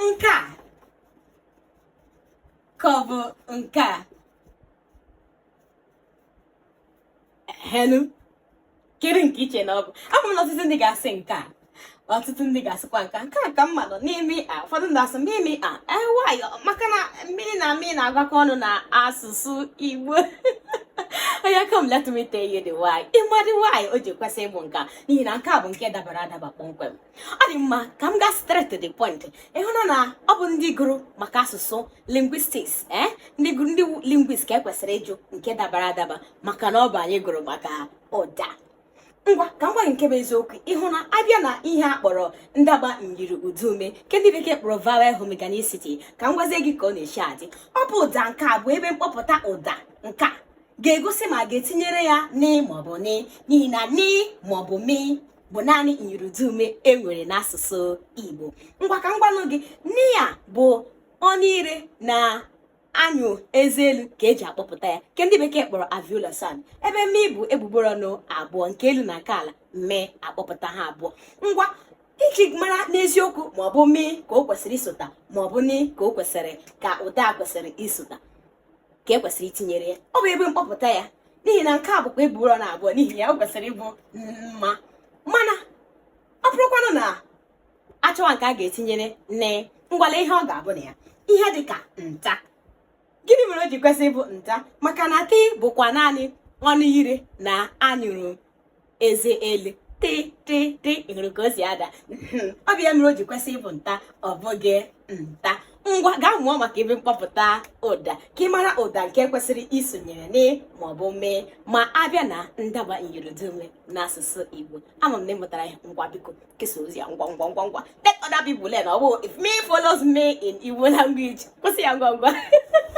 nke a ka ọ bụ nke a hello kedu nke iche na ọ bụ ama m na ọtụtụ ndị ga-asị nke a ọtụtụ ndị ga-asịkwa nke nke a ka mma nọ n'ime a ụfọdụ ndị asị mmiri a why maka na mi na ni na-agakọ ọnụ na asụsụ Igbo oya come let me tell you the why ị ma the why o ji kwesị ịbụ nke a n'ihi na nke a bụ nke dabara adaba kpọmkwem ọ dị mma ka m gaa straight to the point ịhụna na ọ bụ ndị gụrụ maka asụsụ linguistics ee eh? ndị gụrụ ndị linguist ka ekwesịrị ịjụ nke dabara adaba maka na ọ bụ anyị gụrụ maka ụda ngwa ka m gwa gị nke bụ eziokwu ịhụ na abịa na ihe a kpọrọ ndaba myiri ụdaume nke ndị bekee kpọrọ vowel homorganicity ka m gwazie gị ka ọ na-esi adị ọ bụ ụda nke a bụ ebe mkpọpụta ụda nke a ga-egosi ma a ga-etinyere ya ni maọbụ mi n'ihi na ni maọbụ mi bụ naanị myiri ụdaume e nwere n'asụsụ Igbo ngwa ka m gwanụ gị ni ya bụ ọnụ ire na anyụ eze elu ka eji akpọpụta ya nke ndị bekee kpọrọ alveolar sound ebe mi bụ egbugbere ọnụ abụọ nke elu na nke ala mi akpọpụta ha abụọ ngwa iji mara n'eziokwu ma ọ bụ mee ka o kwesịrị isota ma ọ bụ ni ka o kwesịrị ka ụda kwesịrị isota ka e kwesịrị itinyere ya ọ bụ ebe mkpọpụta ya n'ihi na nke a bụkwa egbugbere ọnụ abụọ n'ihi ya o kwesịrị ịbụ mma mana ọ bụrụkwanụ na achọwa nke a ga-etinyere ni ngwa lee ihe ọ ga-abụ na ya ihe dị ka nta gịnị mere o ji kwesị ịbụ nta maka na tị bụkwa naanị ọnụ ire na anyụrụ eze elu tị tị tị ịhụrụ ka o si ada hmm, ọ bụ ya mere o ji kwesị ịbụ nta ọ bụghị mta ngwa gaa mụọ maka ebe mkpọpụta ụda ka ị mara ụda nke kwesịrị isonyere ni maọbụ mi ma abịa na ndaba myiri ụdaume n'asụsụ Igbo ama m na ịmụtara ya ngwa biko kesa ozi a ngwa ngwa ngwa ngwa let other people learn ọ bụ if me follows me in Igbo language kwụsị ya ngwa ngwa